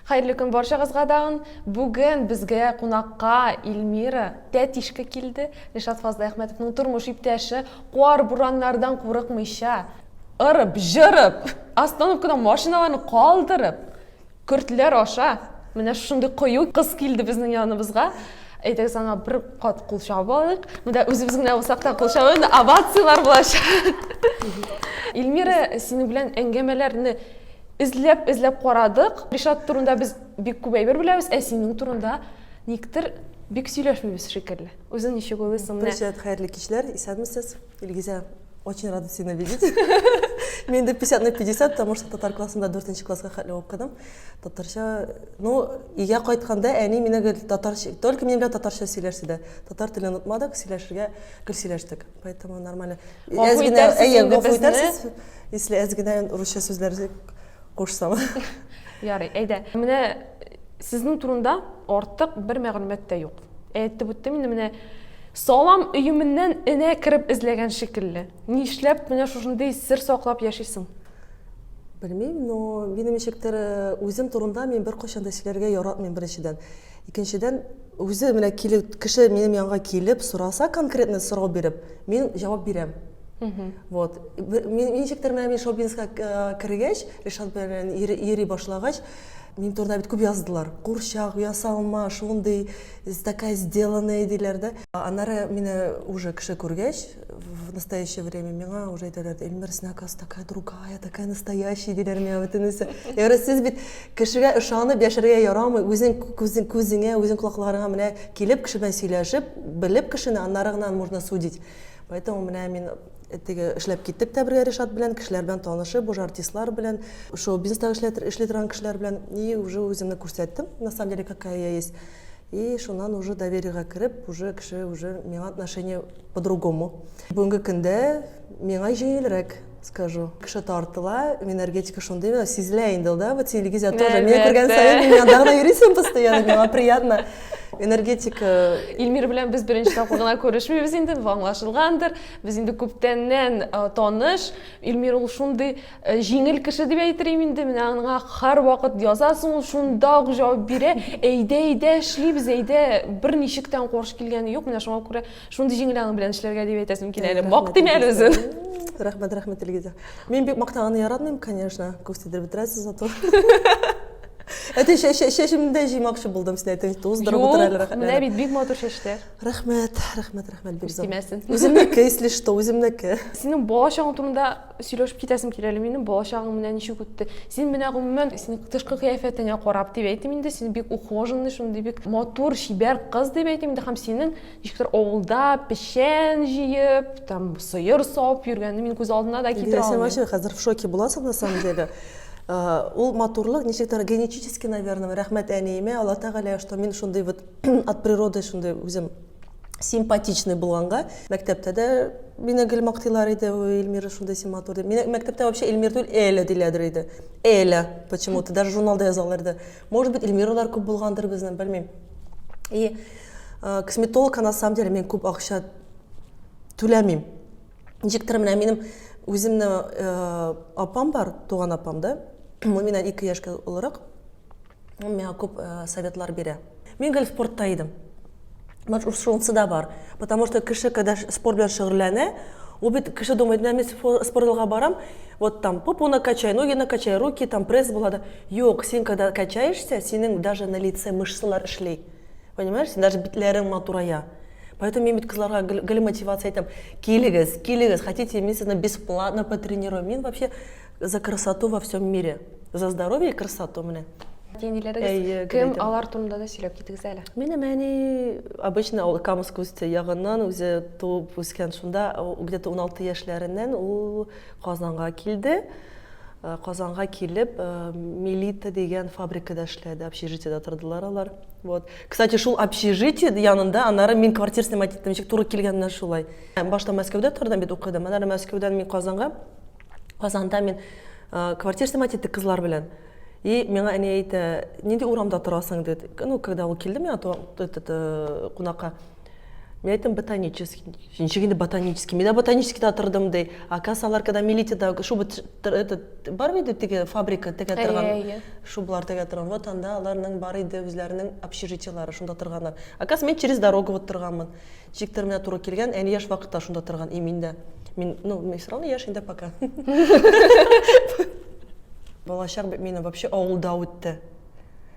Хәерле көн барчагызга дагын. Бүген безгә кунакка Ильмира Тәтишка килде. Ришат Фазлыәхмәтовның тормыш иптәше, кар, бураннардан курыкмыйча, ырып, җырып, остановкада машиналарны калдырып, көртләр аша менә шушындый кыю кыз килде безнең яныбызга. Әйдәгез аңа бер кат кул чабып алыйк. Монда үзебез генә булсак та кул чабу инде овацияләр булачак. Ильмира, синең белән әңгәмәләрне Эзләп эзләп карадык. Ришат турында без бик күп әйбер беләбез, ә синең турында никтер бик сөйләшмибез шикелле. Үзең ничек уйлыйсың? Менә. Привет, хәерле кичләр. Исәнмесез. Илгизә, очень рада сине видеть. Мин дә 50 на 50, потому что татар классында 4 класска хәтле укыдым. Татарча, ну, өйгә кайтканда әни мине гел татарча, только минем белән татарча сөйләште дә. Татар телен онытмадык, сөйләшергә гел сөйләштек. Поэтому нормально. Гафу итәрсез әйе, инде гафу безне. итәрсез. Если әз генә русча сүзләр кушсам. Ярый, әйдә. Менә сезнең турында артык бер мәгълүмат та юк. Әйтеп үттем инде менә салам өеменнән энә кереп эзләгән шикелле. Нишләп менә шушындый сер саклап яшисең? Белмим, но минем ничектер э, үзем турында мин беркайчан да сөйләргә яратмыйм беренчедән. Икенчедән, үзе менә килү, кеше минем янга килеп сораса, конкретно сорау биреп, мин җавап бирәм. Вот. Мин ничектер менә мин Шобинска э, кергәч, Ришат белән йөри башлагач, мин турында бит күп яздылар. Курчак, ясалма, шундый, такая сделанная диләр дә. Аннары мине уже кеше күргәч, в настоящее время миңа уже әйтәләр эльмир син оказывается такая другая такая настоящая диләр миңа бөтенесе яғни сез бит кешегә ышанып яшәргә ярамый үзең күзең күзеңә үзең колакларыңа менә килеп кеше белән сөйләшеп белеп кешене аннары гына можно судить поэтому менә мин э, теге эшләп киттек тә бергә ришат белән кешеләр белән танышып уже артистлар белән шоу бизнеста эшли торган кешеләр белән и уже үземне күрсәттем на самом деле какая я есть И шуннан уже довериегә кереп уже кеше уже миңа отношение по другому бүгенге көндә миңа җиңелрәк скажу кеше тартыла энергетика шундый сизелә инде ул да вот телевизия тоже миңа күргән саен миңа дагы йөрисең постоянно миңа приятно энергетика Ильмир белән без беренче тапкыр гына күрешмибез инде, аңлашылгандыр. Без инде күптәннән таныш. Ильмир ул шундый Э, җиңел кеше дип әйтерлим инде менә аңа һәрвакыт язасың ул шунда ук җавап бирә әйдә әйдә эшлибез әйдә берничек тә каршы килгәне юк менә шуңа күрә шундый җиңел аның белән эшләргә дип әйтәсем килә әле мактыйм әле үзен рәхмәт рәхмәт илгизә мин бик мактаганны яратмыйм конечно күп сидереп бетерәсез зато әти чәчемдә җыймакчы булдым син әйтең туздырып утыр әле рәхмәт менә бит бик матур чәчләр рәхмәт рәхмәт рәхмәт бик зур үземнеке если что үземнеке синең бала чагың турында Сөйләшеп китәсем килә әле минем, балачагың менә ничек үтте. Син менә гомумән, син тышкы кыяфәтеңә карап дип әйтим инде, син бик ухоженный, шундый бик матур, чибәр кыз дип әйтим инде, һәм синең ничектер авылда печән җыеп, там сыер савып йөргәнне мин күз алдына да китерә алмыйм. Диләсә вообще хәзер в шоке буласың на самом деле. Ул матурлык ничектер генетически, наверное, рәхмәт әниемә, Алла Тәгалә, что мин шундый вот от природы шундый үзем симпатичный булганга мәктәптә дә мине гел мактыйлар иде ой эльмира шундый син матур дип мине мәктәптә вообще эльмир түгел эля диләдер иде эля почему то даже журналда язалар иде может быть эльмиралар күп булгандыр безнең белмим и э, косметологка на самом деле мен күп акча түләмим ничек тора менә минем үземне э, апам бар туган апам да миннән ике яшькә олырак Ул миңа күп э, советлар бирә. Мин гел спортта идем. Может, шунысы да бар. Потому что кеше, когда спорт белән шөгыльләнә, ул бит кеше думает, да, мин спортзалга барам, вот там попу накачай, ноги накачай, руки там пресс була да. Юк, син когда качаешься, синең даже на лице мышцалар эшли. Понимаешь, син даже битләрең матурая. Поэтому мин бит кызларга гел, гел мотивация әйтәм. Килегез, килегез, хотите, мин сезне бесплатно потренирую. Мин вообще За красоту во всем мире. За здоровье и красоту, менә. Әйе, кем алар турында да сөйләп китегез әле. Минем әни обычно ул Камыск үсте ягыннан үзе туып үскән шунда, где-то 16 яшьләреннән ул Казанга килде. Э, Казанга килеп, э, Милита дигән фабрикада эшләде, общежитиеда тордылар алар. Вот. Кстати, шул общежитие янында анары мин квартира снимать иттем, ничек туры килгәннән шулай. Башта Мәскәүдә тордым бит, укыдым. Анары Мәскәүдән мин Казанга Казанда мин э, квартира снимать иттек кызлар белән. И миңа әни әйтә, нинди урамда торасың диде. Ну, когда ул килде миңа э, кунакка, Мен айттым ботанический. Ничек инде ботанический? Мен ботаническийда отырдым дей. А кассалар, когда милитида шуба этот бар бит теге фабрика теге торган. Шублар теге торган. Вот анда аларның бар иде үзләренең общежитиелары шунда торганнар. А касс мен через дорогу вот торганмын. Чик терминә туры килгән, әни яш вакытта шунда торган, и мин дә. Мин, ну, мин все равно яшь инде пока. Балачак бит минем вообще авылда үтте.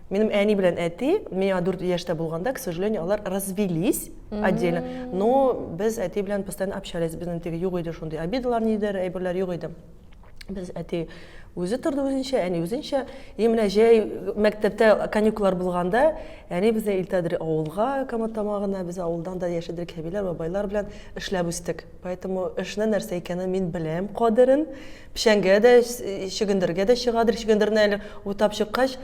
Минем әни белән әти, миңа 4 яшьтә булганда, к сожалению, алар развелись отдельно. Но без әти белән постоянно общались, безнең теге юк иде шундый обидалар, нидер, әйберләр юк иде. Без әти үзе торды үзенчә, әни үзенчә. И менә җәй мәктәптә каникуллар булганда, әни безне илтәдер авылга, Камат тамагына, без авылдан да яшәдек, әбиләр, бабайлар белән эшләп үстек. Поэтому эшне нәрсә икәнен мин беләм кадерен. Печәнгә дә, чөгендергә дә чыгадыр, чөгендерне әле утап чыккач,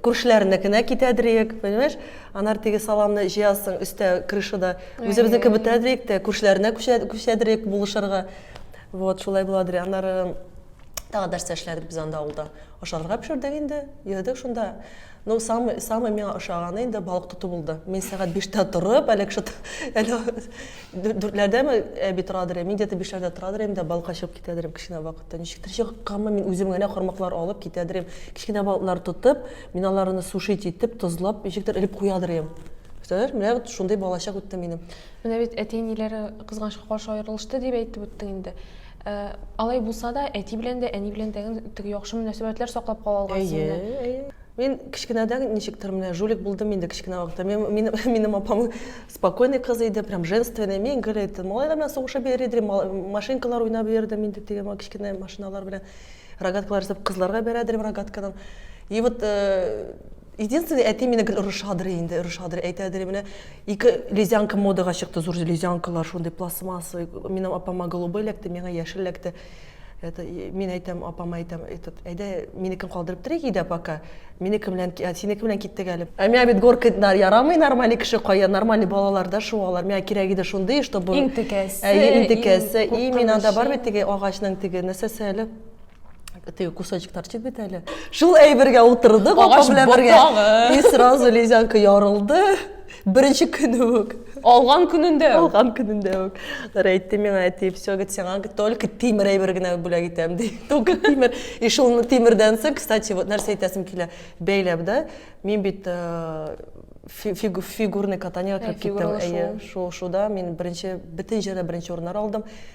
күршеләренекенә китәдер ек, понимаешь? Анар теге саламны җыясың, өстә крышада үзебезнеке бетәдер ик тә, күршеләренә күчәдер ик булышырга. Вот, шулай буладыр. Аннары тагы нәрсә эшләдек без анда авылда? Ашарга пешердек инде, йөрдек шунда. Ну, самый, самый миңа ошаганы инде балык тоту булды. Мин сәгать биштә торып, әле кеше дүртләрдәме әби торадыр, мин где-то бишләрдә торадыр инде, балыкка чыгып китәдер идем кечкенә вакытта. Ничектер чыкканмы, мин үзем генә кармаклар алып китәдер идем. Кечкенә балыклар тотып, мин аларны сушить итеп, тозлап, ничектер элеп куядыр идем. Представляешь, менә вот шундый балачак үтте минем. Менә бит әти-әниләре кызганычка каршы аерылышты дип әйтеп үттең инде. Ә, алай булса да, әти белән дә, әни белән дә теге яхшы мөнәсәбәтләр саклап кала алган син менә. Әйе, әйе. Мин кечкенәдән ничектер менә жулик булдым инде кечкенә вакытта. Мин, минем, минем апам спокойный кыз иде, прям женственный. Мин гел әйттем, малайлар белән сугышып йөр иде, машинкалар уйнап йөрдем инде теге кечкенә машиналар белән. Рогаткалар ясап кызларга бирә идем рогаткадан. И вот, э, Единственный әти мине гел орышадыр инде, орышадыр, әйтәдер менә ике лезянка модага чыкты, зур лезянкалар шундый пластмассовый. Минем апама голубой эләкте, миңа яшел эләкте. Это мин әйтәм, апама әйтәм, этот, әйдә, минекен калдырып торыйк өйдә пока. Минеке белән, синеке белән киттек әле. Ә миңа бит горкайтлар ярамый, нормальный кеше кая, нормальный балалар да шуалар. Миңа кирәк иде шундый, чтобы Иң текәсе, әйе, иң текәсе. И мин анда бар бит теге агачның теге нәрсәсе әле? теге кусочектар чит бит әле шул әйбергә утырдык апа белән бергә и сразу лизянка ярылды беренче көне үк алган көнендә алган көнендә үк нара әйтте миңа әти все говорит сиңа только тимер әйбер генә бүләк итәм ди только тимер и шул тимердән соң кстати вот нәрсә әйтәсем килә бәйләп да мин бит э, фигу, фигурный катаниега кереп киттем әйе шуышуда мин беренче бөтен җирдә беренче урыннар алдым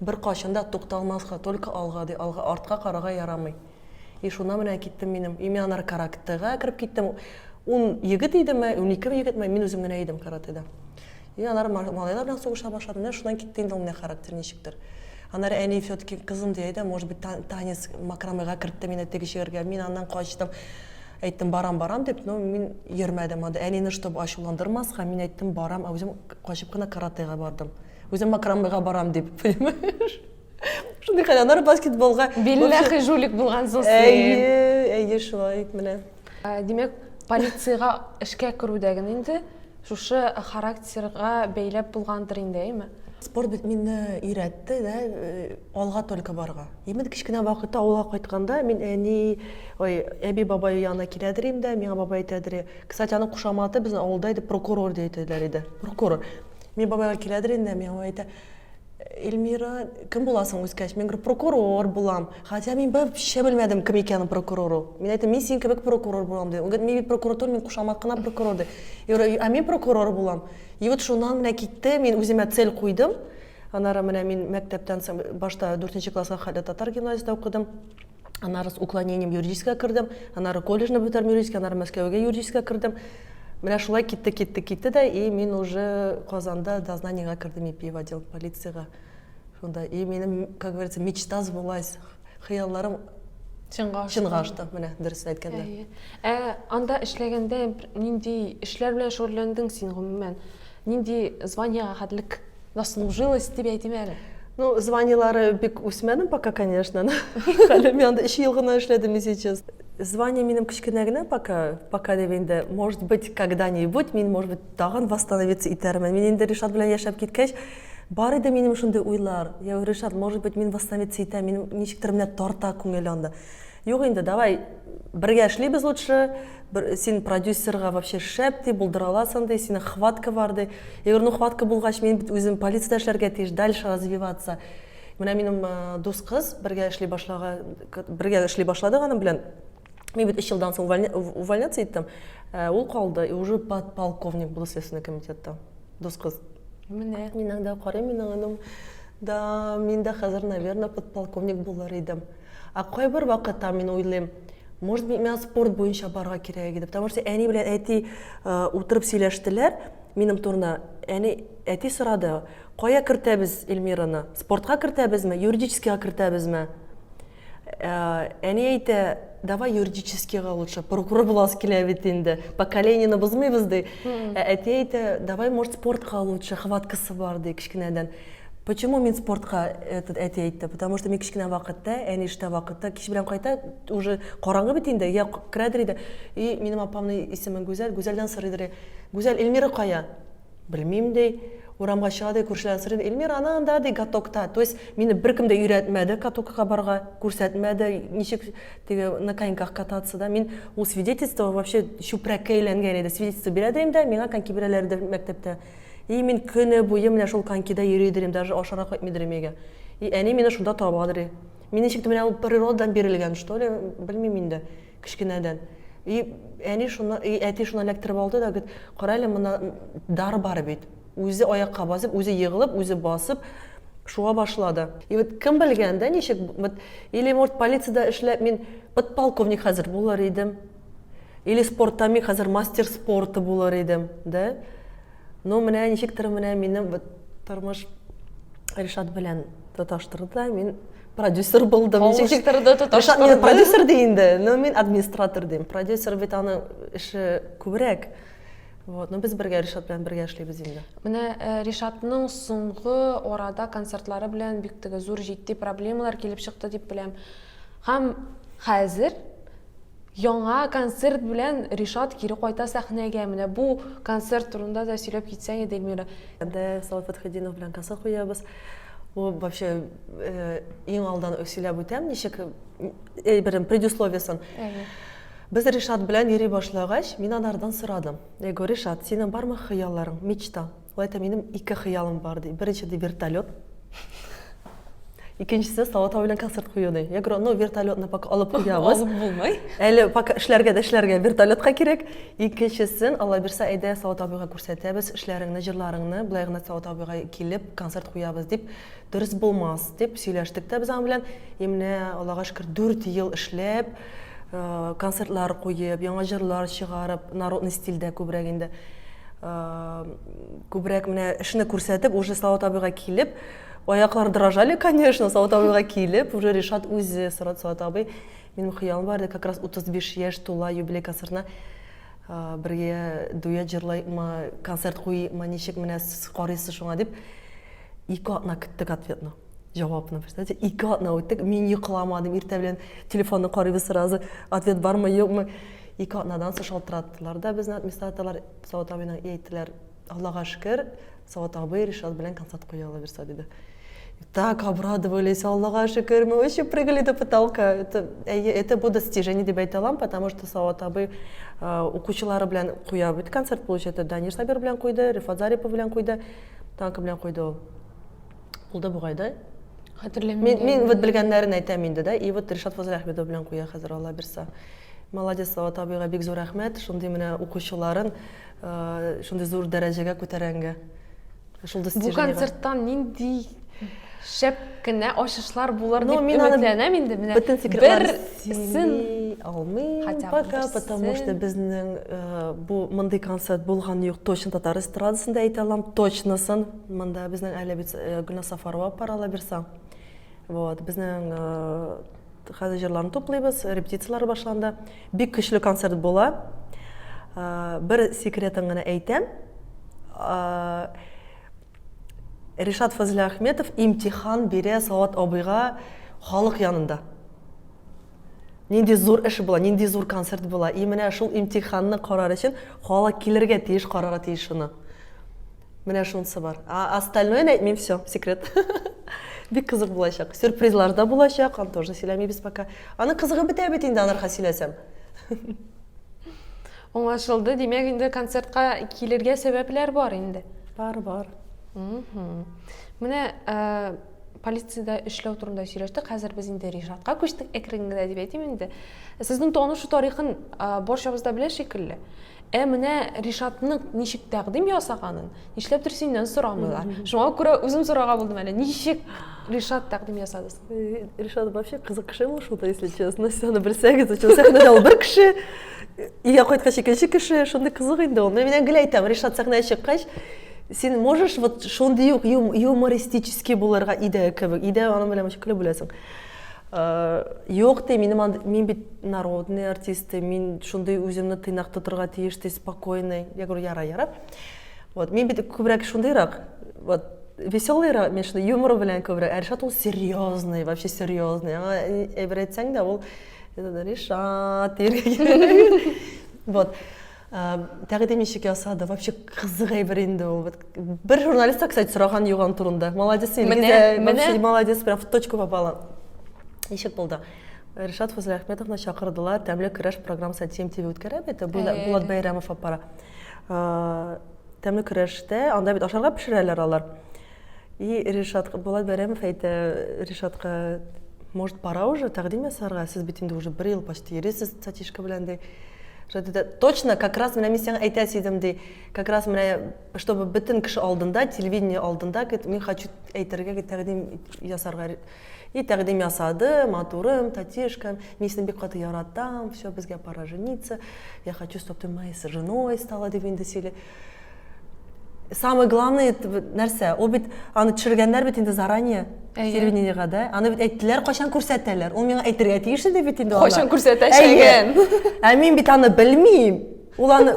Беркайчан да тукталмаска, только алга, ди, алга, артка карарга ярамый. И шуннан менә киттем минем. И мин аннары каратега кереп киттем. Ун егет идеме, унике егетме, мин үзем генә идем каратеда. И аннары малайлар белән сугыша башладым. Менә шуннан китте инде ул менә характер ничектер. Аннары әни все-таки кызым ди, әйдә, может быть, танец макрамега кертте мине теге җиргә. Мин аннан качтым. Әйттем, барам, барам дип, но мин йөрмәдем анда. Әнине, чтобы ачуландырмаска, мин әйттем, барам, ә үзем качып кына каратега бардым. Үзем макрамега барам дип, понимаешь? Шундый хәл, аннары баскетболга. Билләхи жулик булган соң син. Әйе, әйе, шулай менә. Ә, димәк, полициягә эшкә керүдәген инде шушы характерга бәйләп булгандыр инде, әйме? Спорт бит мине өйрәтте, да, э, алга только барга. Именно кечкенә вакытта авылга кайтканда мин әни, ой, әби бабай янына киләдер инде, миңа бабай әйтәдер. Кстати, аның кушаматы безнең авылда иде, прокурор дип әйтәләр иде. Прокурор. Мин бабайга киләдер инде, миңа әйтә, Эльмира, кем буласың үскәч? Мин говорю, прокурор булам. Хотя мин вообще белмәдем, кем икәнен прокурору. Мин әйттем, мин син кебек прокурор булам ди. Он говорит, мин бит прокуратура, мин кушамат кына прокурор ди. Я говорю, а мин прокурор булам. И вот шуннан менә китте, мин үземә цель куйдым. Анара менә мин мәктәптән соң башта 4 класска хәлле татар гимназиясендә укыдым. аннары с уклонением юридическийга кердем аннары колледжны бетердем юридический аннары мәскәүгә юридическийга кердем менә шулай китте китте китте дә и мин уже казанда дознаниега кердем ипи в отдел полицияга шунда и минем как говорится мечта сбылась хыялларым чынга ашты чынга ашты менә дөресен әйткәндә ә анда эшләгәндә нинди эшләр белән шөгыльләндең син гомумән Нинди званиега хәтлек заслужилась дип әйтим әле? Ну, званиелары бик үсмәдем пока, конечно. Хәле мин анда өч ел гына эшләдем и сейчас. Звание минем кечкенә генә пока, пока дип инде, может быть, когда-нибудь мин, может быть, тагын восстановиться итәрмен. Мин инде Ришат белән яшәп киткәч, бар иде минем шундый уйлар. Я говорю, Ришат, может быть, мин восстановиться итәм, мин ничектер менә тарта күңел анда. Юк инде, давай бергә эшлибез лучше, син продюсерга вообще шәп ди, булдыра аласың ди, синең хватка бар ди. Я говорю, ну хватка булгач, мин бит үзем полицияда эшләргә тиеш, дальше развиваться. Менә минем э, дус кыз бергә эшли башлага, бергә эшли башладык аның белән. Мин бит 3 елдан соң увольняться иттем. Э, ул калды и уже подполковник был следственный комитетта. Дус кыз. Менә. Мин анда карыйм, минем да, мин дә хәзер, наверное, подполковник булыр идем. Ә кайбер вакытта мин уйлыйм, может быть, миңа спорт буенча барга кирәк иде. Потому что әни белән әти утырып сөйләштеләр минем турына. Әни, әти сорады, кая кертәбез Эльмираны? Спортка кертәбезме, юридическийга кертәбезме? Әни әйтә, давай юридическийга лучше, прокурор буласы килә бит инде, поколениены бозмыйбыз ди. Ә әти әйтә, давай, может, спортка лучше, хваткасы бар ди, кечкенәдән. Почему мин спортка этот әти әйтте? Потому что мин кечкенә вакытта, әни эштә вакытта, кич белән кайта, уже караңгы бит инде, я керәдер иде. И минем апамның исеме Гүзәл, Гүзәлдән сорыйдыр. Гүзәл Эльмира кая? Белмим ди. Урамга чыга ди, күршеләрдән сорыйдыр. Эльмира ана анда ди, катокта. То есть мине беркем дә өйрәтмәде катокка барга, күрсәтмәде, ничек теге на коньках кататься да. Мин ул свидетельство вообще чүпрәккә әйләнгән иде. Свидетельство бирәдер инде, миңа коньки бирәләрдер мәктәптә. И мин көне буе менә шул конькида йөри идерим, даже ашарга кайтмый идерим өйгә. И әни мине шунда таба дери. Мин ничек менә ул природадан бирелгән, что ли, белмим инде, кечкенәдән. И әни шуны, и әти шуны эләктереп алды да, говорит, кара әле монда дар бар бит. Үзе аякка басып, үзе егылып, үзе басып, шуа башлады. И вот кем белгән, да, ничек, вот, или, может, полицияда эшләп мин подполковник хәзер булыр идем. Или спортта мин хәзер мастер спорта булыр идем, да? Ну, менә ничектер менә минем вот тормыш Ришат белән тоташтырды да, мин продюсер булдым. Ничектер дә тоташтырды. Ришат продюсер ди инде, но мин администратор дим. Продюсер бит аның эше күбрәк. Вот, ну без бергә Ришат белән бергә эшлибез инде. Менә э, Ришатның соңгы арада концертлары белән бик теге зур җитди проблемалар килеп чыкты дип беләм. Һәм хәзер яңа концерт белән Ришат кире кайта сәхнәгә. Менә бу концерт турында да сөйләп китсәң иде, Эльмира. Дә Салават Фәтхетдинов белән концерт куябыз. Бу вообще иң алдан сөйләп үтәм, ничек әйберем предусловиясын. Без Ришат белән йөри башлагач, мин анардан сорадым. Я говорю, Ришат, синең бармы хыялларың, мечта? Болай да минем ике хыялым бар, ди. Беренче, ди, вертолет. Икенчесе Салатау белән концерт кую, ди. Я говорю, ну, вертолетны пока алып куябыз. Алып булмый. Әле пока эшләргә дә эшләргә вертолетка кирәк. Икенчесен, Алла бирсә, әйдә Салат абыйга күрсәтәбез эшләреңне, җырларыңны, болай гына Салат абыйга килеп концерт куябыз дип, дөрес булмас дип сөйләштек тә без аның белән. И менә, Аллага шөкер, дүрт ел эшләп, концертлар куеп, яңа җырлар чыгарып, народный стильдә күбрәк инде. Күбрәк менә эшне күрсәтеп, уже Слава табига килеп, аяклар дрожали, конечно, Слава табига килеп, уже Ришат үзе сорады, Слава табый, минем хыялым бар иде, как раз 35 яшь тула юбилей концертына бергә дуэт җырлаймы, концерт куймы, ничек менә сез карыйсыз шуңа дип, ике атна көттек ответны. җавапны представьте ике атна үттек мин йокламадым иртә белән телефонны карыйбыз сразу ответ бармы юкмы ике атнадан соң шалтыраттылар да безне администраторлар сават абыйның и әйттеләр аллага шөкер сават абый ришат белән концерт куя ала бирса диде так обрадовались аллага шөкер мы вообще прыгали до потолка это әйе это бу достижение дип әйтә алам потому что сават абый укучылары белән куя бит концерт получается данир сабир белән куйды рифат зарипов белән куйды танка белән куйды ул Ул да бугай да. Хәтерләмим. Мин, мин вот белгәннәрен әйтәм инде да. И вот Ришат Фазлахмедов белән куя хәзер Алла бирса. Молодец, Салават абыйга бик зур рәхмәт. Шундый менә укучыларын э, шундый зур дәрәҗәгә күтәрәнгә. Шул Бу концерттан нинди шәп кенә ачышлар булыр ну, дип өметләнәм инде менә бөтен секретларсын алмыйм пока потому что безнең э, бу мондый концерт булган юк точно татар эстрадасында әйтә алам точносын Монда безнең әле бит э, Гөлназ Сафарова алып бара лабирса. Вот, безнең э, хәзер җырларны туплыйбыз, репетицияләр башланды. Бик көчле концерт була. Э, Бер секретын гына әйтәм. Э, Ришат Фазлия Ахметов имтихан бирә Салават абыйга халык янында. Нинди зур эш була, нинди зур концерт була. И менә шул имтиханны карар өчен халык килергә тиеш, карарга тиеш шуны. Менә шунысы бар. А остальное әйтмим, все, секрет. Бик кызык булачак. Сюрпризлар да булачак, аны тоже сөйләмибез пока. Аны кызыгы бетә бит инде аларга сөйләсәм. Аңлашылды. Димәк, инде концертка килергә сәбәпләр бар инде. Бар, бар. Менә э, полициядә эшләү турында сөйләштек. Хәзер без инде Ришатка күчтек әкрен генә дип әйтим инде. Сезнең танышу тарихын э, барчабыз да белә шикелле. Ә менә Ришатның ничек тәкъдим ясаганын, нишләптер синнән сорамыйлар. Шуңа күрә үзем сорарга булдым әле, ничек Ришат тәкъдим ясады? Э, Ришат вообще кызык кеше ул шунда, если честно. Сез аны белсәгез, өчен сәхнәдә ул бер кеше, өйгә кайткач икенче кеше, шундый кызык инде ул. Мин генә гел әйтәм, Ришат сәхнәгә чыккач, син можешь вот шундый ук юмористический булырга идея кебек, идея аның белән көлеп үләсең. Юк ди, минем анд- мин бит народный артист, ди, мин шундый үземне тыйнак тотырга тиеш, ди, спокойный. Я говорю, ярар, ярар. Вот, мин бит күбрәк шундыйрак, вот, веселыйрак, мин шундый юмор белән күбрәк. Ә Ришат ул серьезный, вообще серьезный. Аңа э, әйбер әйтсәң дә, ул э, Ришат дияргә кирәк. Вот. Тәкъдим ничек ясады? Вообще кызык әйбер инде ул. Бер журналистка, кстати, сораган юк аны турында. Молодец инде. Менә, менә. Молодец, прям в точку попала. Ничек булды? Ришат Фузләхметовны чакырдылар, тәмле көрәш программасы TMTV үткәрә бит, Булат Бәйрәмов аппара. Тәмле көрәштә, анда бит ашарга пешерәләр алар. И ришат булат бәйрәмов әйтә ришатка может пора уже тәкъдим ясарга сез бит инде уже бер ел почти йөрисез сатишка белән ди точно как раз менә мин сиңа әйтәсе идем ди как раз менә чтобы бөтен кеше алдында телевидение алдында мин хочу әйтергә тәкъдим ясарга и тәкъдим ясады матурым татишкам мин сине бик каты яратам все безгә пора жениться я хочу чтобы ты моей женой стала дип инде сөйли самый главный нәрсә ул бит аны төшергәннәр бит инде заранее телевидениега да аны бит әйттеләр кайчан күрсәтәләр ул миңа әйтергә тиеш иде бит инде кайчан күрсәтәчәген ә мин бит аны белмим ул аны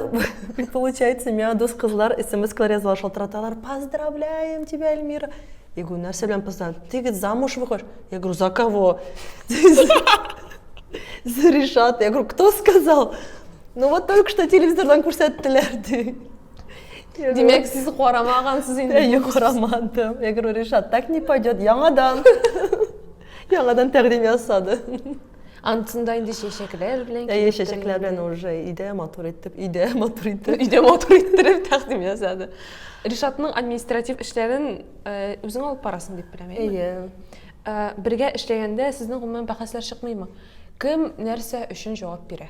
получается миңа дус кызлар смс-калар язалар шалтыраталар поздравляем тебя эльмира я говорю нәрсә белән поздравляем ты говорит замуж выходишь я говорю за кого за решата я говорю кто сказал Ну вот только что телевизордан күрсәттеләр ди. Димәк, сез карамагансыз инде. Әйе, карамадым. Я говорю, Ришат, так не пойдет. Яңадан. Яңадан тәкъдим ясады. Антында инде чәчәкләр белән Әйе, чәчәкләр белән уже идә матур итеп, идә матур итеп. Идә матур иттереп тәкъдим ясады. Ришатның административ эшләрен э, үзең алып барасың дип беләм, әйе. Әйе. Ә бергә эшләгәндә сезнең гомумән бәхәсләр чыкмыймы? Кем нәрсә өчен җавап бирә?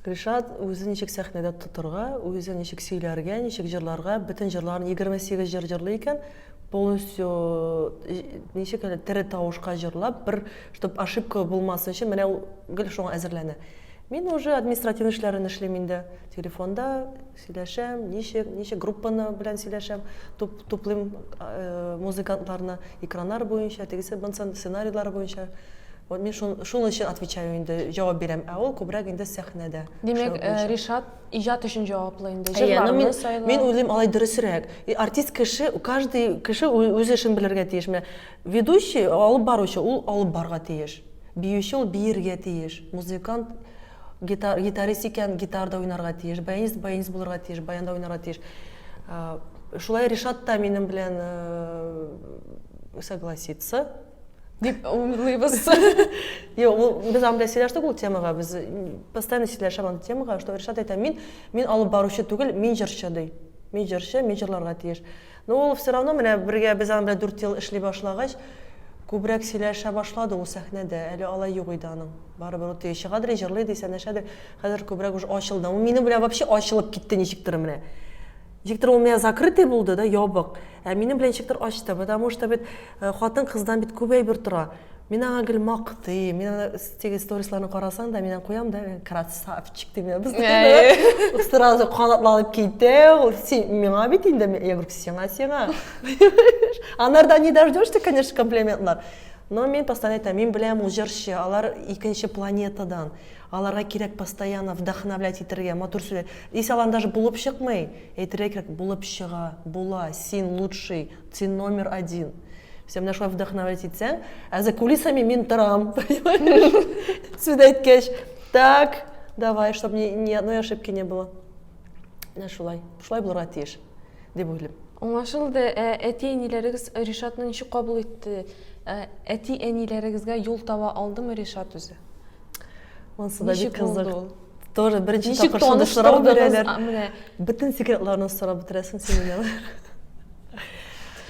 Ришат үзе ничек сәхнәдә тотырга, үзе ничек сөйләргә, ничек җырларга, бөтен җырларын 28 җыр җырлый икән, полностью ничек әле тере тавышка җырлап, бер чтобы ошибка булмасын өчен менә ул гел шуңа әзерләнә. Мин уже административный эшләрен эшлим инде, телефонда Сөйләшәм, ничек, ничек группаны белән сөйләшәм, туп, туплыйм музыкантларны, экраннар буенча, тегесе бынсын, сценарийлар буенча. Вот мин шун, шул өчен отвечаю инде, җавап бирәм, ә ул күбрәк инде сәхнәдә. Димәк, Ришат иҗат өчен җаваплы инде, җырларны сайлау. Мин уйлыйм, алай дөресрәк. Артист кеше, каждый кеше үз эшен белергә тиеш. Менә ведущий, алып баручы, ул алып барырга тиеш. Биюче, ул биергә тиеш. Музыкант, Гитар, гитарист икән, гитар да уйнарга тиеш, баянист, баянист булырга тиеш, баян да уйнарга тиеш. Шулай Ришат та минем белән согласится. Дип уйлыйбыз. Юк, ул без анда сөйләштек ул темага, без постоянно сөйләшәм андый темага, что Ришат әйтә, мин мин алып баручы түгел, мин җырчы ди. Мин җырчы, мин җырларга тиеш. Ну ул все равно менә бергә без аның белән дүрт ел эшли башлагач, күбрәк сөйләшә башлады ул сәхнәдә, әле алай юк иде аның. Барыбер ул теге чыгадыр и җырлый ди, сәнәшәдер, хәзер күбрәк уже ачылды. Ул минем белән вообще ачылып китте ничектер менә. Ничектер ул менә закрытый булды да, ябык. Ә минем белән ничектер ачты, потому что бит хатын-кыздан бит күп әйбер тора. Мин аңа гел мактыйм. Мин аны теге сторисларны карасаң да, мин аны куям да, красавчик дип мин постоянно. Сразу канатланып китә. Ул син миңа бит инде. Я говорю, сиңа, сиңа. Анардан не дождешься, конечно, комплиментлар. Но мин постоянно әйтәм, мин беләм ул җырчы, алар икенче планетадан. Аларга кирәк постоянно вдохновлять итергә, матур сүзләр. Если алар даже булып чыкмый, әйтергә кирәк, булып чыга, була, син лучший, Син номер один. Син менә шулай вдохновлять итсәң, ә за кулисами мин торам. Сүз әйткәч, так, давай, чтобы ни, ни одной ошибки не было. Менә шулай. Шулай булырга тиеш, дип уйлыйм. Аңлашылды. Ә әти-әниләрегез Ришатны ничек кабул итте? Ә әти-әниләрегезгә юл таба алдымы Ришат үзе? Монсы да бик кызык. Тоже беренче тапкыр шундый сорау бирәләр. Бөтен секретларны сорап бетерәсең син менә.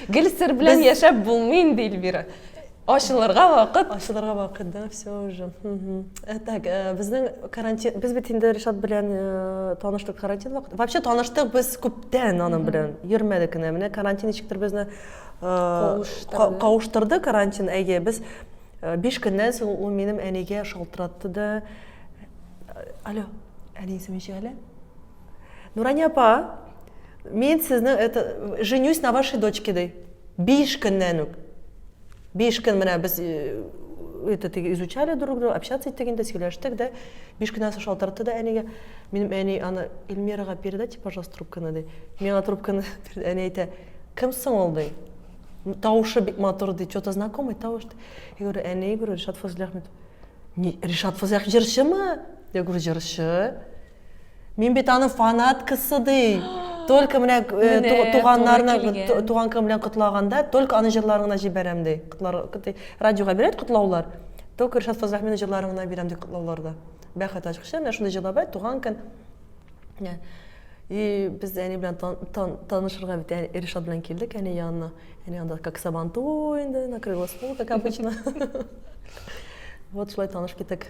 Гел сер белән яшәп булмый инде Эльвира. Ачылырга вакыт. Ачылырга вакыт, да, все уже. Э, так, э, безнең карантин, без бит инде Ришат белән э, таныштык карантин вакыт. Вообще таныштык без күптән аның белән. Йөрмәдек кенә. Менә карантин ничектер безне кавыштырды карантин, әйе, без Биш көннән соң ул минем әнигә шалтыратты да, алло, әни исеме ничек әле? Нурания апа, мин сезне это женюсь на вашей дочке ди. Биш көннән үк. Биш көн менә без э, это изучали друг друга, общаться иттек инде, сөйләштек дә. Биш көннән соң шалтыратты да әнигә. Минем әни аны Эльмирага передайте, пожалуйста, трубканы ди. Миңа трубканы әни әйтә, кем соң ул ди? Тавышы бик матур ди, что-то знакомый тавыш. Я говорю, ә не, говорю, Ришат Фазлый Ахмед. Не, Ришат Фазлый Ахмед җырчымы? Я говорю, җырчы. Мин бит аның фанаткасы ди. Только менә э, туганнарны, туган көн белән котлаганда, только аның җырларын гына җибәрәм ди. Радиога бирәт котлаулар. Только Ришат Фазлый Ахмедның җырларын гына бирәм ди котлауларда. Бәхет ачкычы, менә шундый җырлар бар, туган көн. Ә, И без әни белән тан, тан, танышырга бит әни, Ришат белән килдек әни янына. Әни анда как сабанту инде, накрылась пол, как обычно. Вот шулай таныш китек.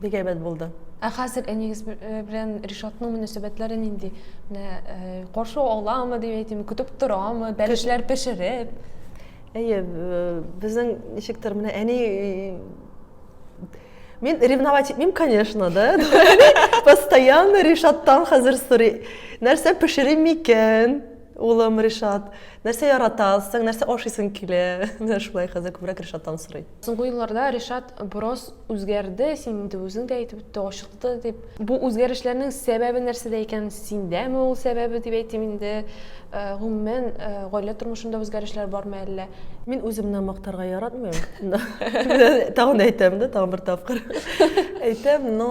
Бик әйбәт булды. Ә хәзер әнигез э, белән Ришатның мөнәсәбәтләре нинди? Менә э, каршы аламы дип әйтим, көтеп торамы, бәлешләр пешереп? Әйе, э, безнең ничектер менә әни Мин ревновать итмим, конечно, да. Постоянно Ришаттан хәзер сорый. Нәрсә пешерим микән? Улым Ришат, нәрсә яратасың, нәрсә ашыйсың килә? Менә шулай хәзер күбрәк Ришаттан сорый. Соңгы елларда Ришат бераз үзгәрде, син инде үзең дә әйтеп үтте, ачыкты дип. Бу үзгәрешләрнең сәбәбе нәрсәдә икән? Синдәме ул сәбәбе дип әйтим инде. Гомумән, гаилә тормышында үзгәрешләр бармы әллә? Мин үземне мактарга яратмыйм. Тагын әйтәм дә, тагын бер тапкыр әйтәм, но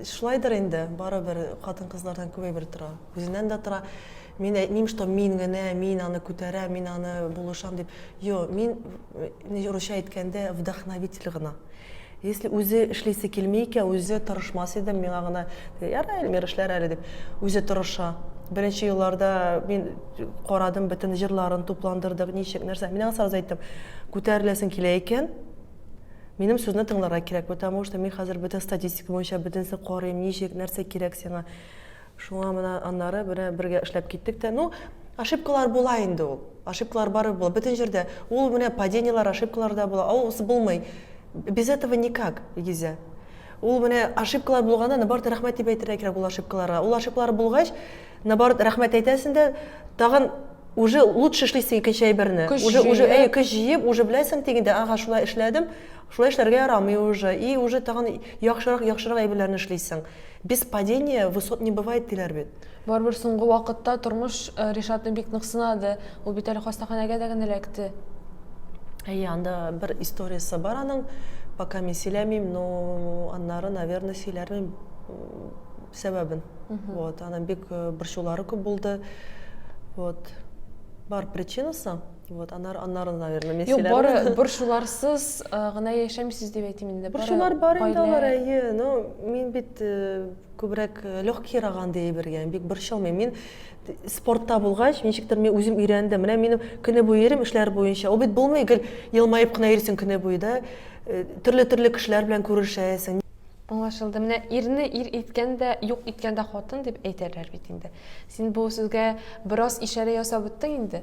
шулайдыр инде, барыбер хатын-кызлардан күбәйбер тора. Үзеннән дә тора. Мин әйтмим, что мин генә, мин аны күтәрәм, мин аны булышам дип. Юк, мин Э, русча әйткәндә, вдохновитель гына. Если үзе эшлисе килми икән, үзе тырышмас идем, миңа гына яра Эльмир эшләр әле дип, үзе тырыша. Беренче елларда мин карадым, бөтен җырларын тупландырдык, ничек, нәрсә. Мин аңа сразу әйттем, күтәреләсең килә икән, минем сүзне тыңларга кирәк, потому что мин хәзер бөтен статистика буенча бөтенесен карыйм, ничек, нәрсә кирәк сиңа. Шуңа менә аннары менә бергә эшләп киттек тә, ну, ошибкалар була инде ул. Ошибкалар барыбер була, бөтен җирдә. Ул менә падениелар, ошибкалар да була, аус булмый. Без этого никак, Илгизә. Ул менә ошибкалар булганда, наоборот, рәхмәт дип әйтергә кирәк ул ошибкаларга. Ул ошибкалар булгач, наоборот, рәхмәт әйтәсең дә, тагын уже лучше эшлисең икенче әйберне. Көч уже, җыеп. уже, әйе, көч җыеп, уже беләсең тегендә, ага, шулай эшләдем, шулай эшләргә ярамый уже. И уже тагын яхшырак, яхшырак әйберләрне эшлисең. Без падения высот не бывает диләр бит. Барыбер соңгы вакытта тормыш Ришатны бик нык сынады. Ул бит әле хастаханәгә дә генә эләкте. Әйе, анда бер историясе бар аның. Пока мин сөйләмим, но аннары, наверное, сөйләрмен сәбәбен. Вот, аның бик борчулары күп булды. Вот. Бар причинасы. Вот, анар, анар, наверное, мен Юк, бары бер шуларсыз гына яшәмисез дип әйтим инде. Бер шулар бар инде алар, әйе. Но мин бит күбрәк легкий раган ди әйбергә, бик борчылмыйм. Мин спортта булгач, ничектер мин үзем өйрәндем. Менә минем көне буе йөрим эшләр буенча. Ул бит булмый, гел елмаеп кына йөрисең көне буе да. Төрле-төрле кешеләр белән күрешәсең. Аңлашылды. Менә ирне ир иткән дә, юк иткән дә хатын дип әйтәләр бит инде. Син бу сүзгә бераз ишарә ясап үттең инде.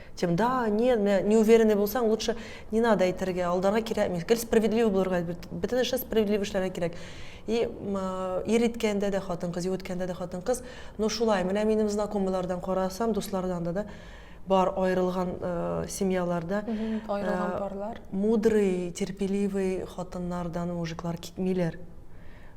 Тем, да, не, не, не уверенный булсаң, лучше не надо әйтергә, алдарга кирәкми. Гел справедливый булырга, әлбәт, бөтен эшне справедливый эшләргә кирәк. И ир иткәндә дә хатын-кыз, юк иткәндә дә хатын-кыз, но шулай, менә минем знакомыйлардан карасам, дуслардан да, да, бар аерылган э, семьяларда аерылган э, парлар мудрый терпеливый хатыннардан мужиклар китмиләр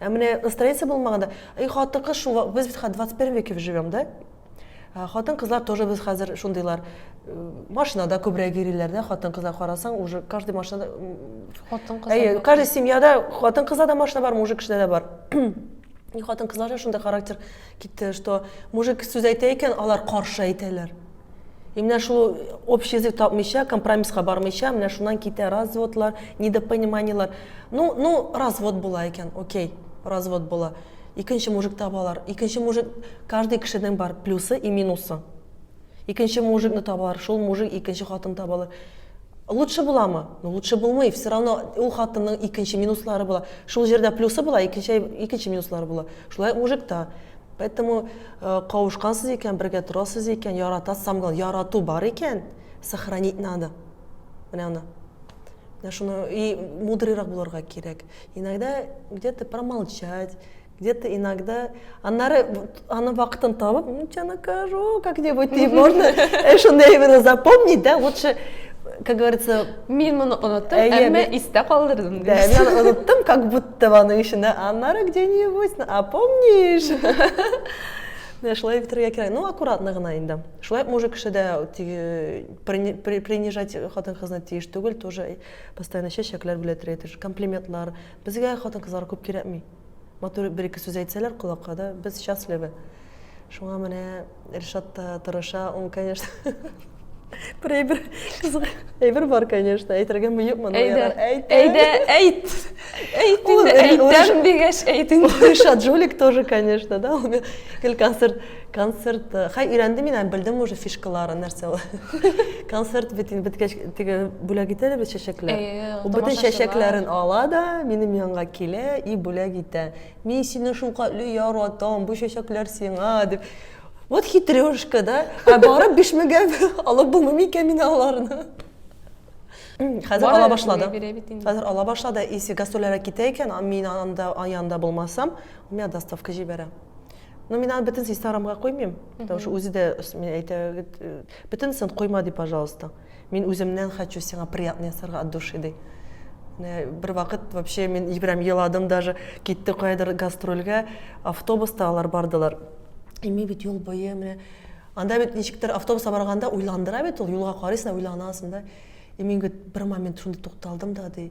Ә менә настроение булмаганда, и хатын-кыз шул, без бит хәзер 21 веке живем, да? Ә хатын-кызлар тоже без хәзер шундыйлар. Э, машинада күбрәк йөриләр, да, хатын-кызлар карасаң, уже каждый машинада хатын-кыз. Әйе, каждый семьяда хатын-кызда да машина бар, мужик кешедә дә бар. И хатын-кызларда шундый характер китте, что мужик сүз әйтә икән, алар каршы әйтәләр. И менә шул общий язык тапмыйча, компромисска бармыйча, менә шуннан китә разводлар, недопониманиелар. Ну, ну, развод була икән, окей, развод була. Икенче мужик табалар. Икенче мужик, каждый кешенең бар плюсы и минусы. Икенче мужикны табалар, шул мужик икенче хатын табалар. Лучше буламы? Ну, лучше булмый. Все равно ул хатынның икенче минуслары була. Шул җирдә плюсы була, икенче, икенче минуслары була. Шулай мужик та. Поэтому кавышкансыз икән, бергә торасыз икән, ярата, самгал, ярату бар икән, сохранить надо. Менә аны. Менә шуны и мудрыйрак булырга кирәк. Иногда где-то промолчать, где-то иногда аннары аны вакытын табып, ну тебя накажу как-нибудь, и можно шундый именно запомнить, да, лучше как говорится, мин моны оныттым, әмма истә калдырдым. Да, мин оныттым, как будто Табаның эчендә, аннары где-нибудь, а помнишь? Менә шулай бетерергә кирәк. Ну, аккуратно гына инде. Шулай мужик кеше дә принижать хатын-кызны тиеш түгел, тоже постоянно чәчәкләр белән тиеш, комплиментлар. Безгә хатын-кызлар күп кирәкми. Матур бер-ике сүз әйтсәләр колакка да, без счастливы. Шуңа менә Ришат та тырыша, он, конечно, бір әйбір қызық әйбір бар конечно әйтергә миықмын әйдә әйдә әйт әйт инде әйтәм дигәч әйт инде ришат жулик тоже конечно да ул гел концерт концерт э, хай өйрәндем мин һәм белдем уже фишкаларын нәрсә ул концерт бит инде беткәч теге бүләк итә дә бит чәчәкләр ул бөтен чәчәкләрен ала да минем янга килә и бүләк итә Мин сине шулкатле яратам, бу чәчәкләр сиңа, дип. Вот хитрёшка, да? Ә барып бишмегә алып булмыймы икән мин аларны? Хәзер ала башлады. Хәзер ала башлады. Исе гастрольләргә китә икән, мин анда янында булмасам, миңа доставка җибәрә. Ну, мин аны бөтенесе Инстаграмга куймыйм, потому что үзе дә мин әйтә, бөтенесен куйма ди, пожалуйста. Мин үземнән хочу сиңа приятно ясарга от души, ди. Менә бервакыт вообще мин прям еладым даже, китте каядыр гастрольгә, автобуста алар бардылар. И мин бит юл буе менә анда бит ничектер автобуста барганда уйландыра бит ул, юлга карыйсың да уйланасың да. И мин бит бер момент шунда тукталдым да, ди.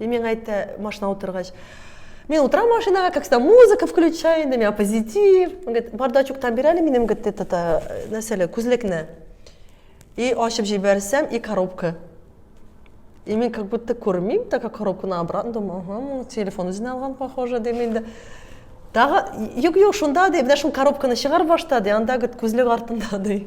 И миңа әйтте машина утыргач мен утрам машинаға как всегда музыка включаю на меня позитив он говорит бардачоктан бир әле минем говорит это нәрсәле күзлекне и ачып җибәрсәм и коробка и мен как будто күрмим так как коробканы обратно думаю ага телефон үзенә алган похоже дим инде тагы юк юк шунда ди менә шул коробканы чыгарып башта ди анда говорит күзлек артында ди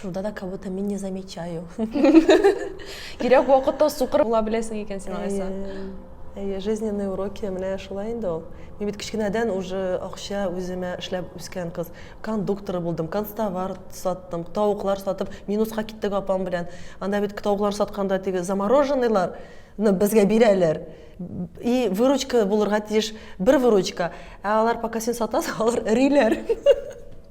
Шунда да как будто мин не замечаю. Кирәк вакытта сукыр була беләсең икән син алайса. Әйе, жизненные уроки менә шулай инде ул. Мин бит кечкенәдән уже акча үземә эшләп үскән кыз. Кондуктор булдым, констовар саттым, тавыклар сатып, минуска киттек апам белән. Анда бит тавыклар сатканда теге замороженныйлар безгә бирәләр и выручка булырга тиеш бер выручка ә алар пока син сатасың алар эриләр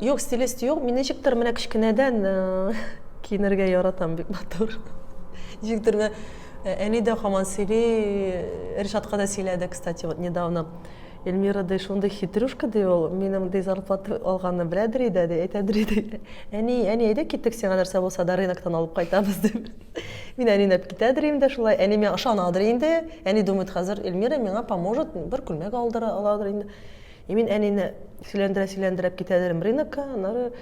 Юк, стилист юк. Мин ничектер менә кечкенәдән киенергә яратам бик матур. Ничектер менә әни дә хаман сөйли, Ришатка да сөйләде, кстати, вот недавно. Эльмира ди, шундый хитрюшка ди ул, минем ди зарплата алганны беләдер иде, ди, әйтәдер иде. Әни, әни, әйдә китик, сиңа нәрсә булса да рыноктан алып кайтабыз дип. Мин әнинәп китәдер инде шулай. Әни миңа ышанадыр инде. Әни думает, хәзер Эльмира миңа поможет, бер күлмәк алдыра аладыр инде. И мин әнине сөйләндерә сөйләндерәп китәдерем рынокка, аннары